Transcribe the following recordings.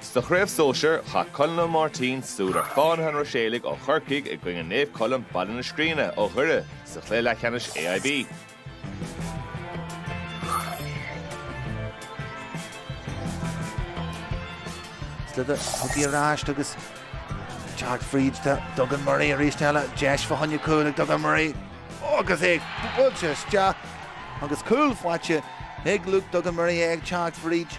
Sa chraobh sóisear, tá Colm Ó Máirtín ag súil ar Fhánaithe an Ruiséalaigh ó Chorcaigh i gcoinne Naomh Colm, Baile na Scríne, ó Dhoire sa chluiche leathcheannais AIB. Tugann í ar ais agus teacht fríd do Duggan Murray arís eile. Deis fá choinne cúil ag Duggan Murray agus é buailte isteach agus cúl faighte ag Luke Duggan Murray é ag teacht fríd.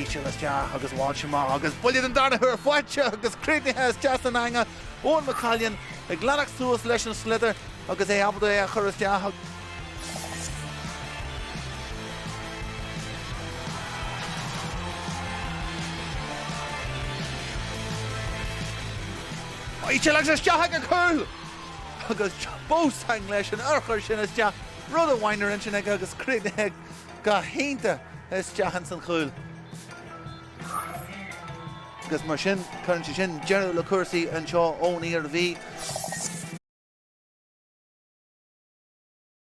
Íseal isteach agus amach agus buille den darna huair faighte agus críochnaithe isteach san eanga, Eoghan McCallion ag leanacht suas leis an sliotar agus é ábalta é a chur isteach. Íseal agus isteach ag an chúl agus bósang leis an urchar sin isteach. rud a bhainear ansin aige agus críochnaithe go hiontach isteach ins an chúl. Agus mar sin, cuireann sé sin deireadh le cúrsaí anseo ón Iarmhí.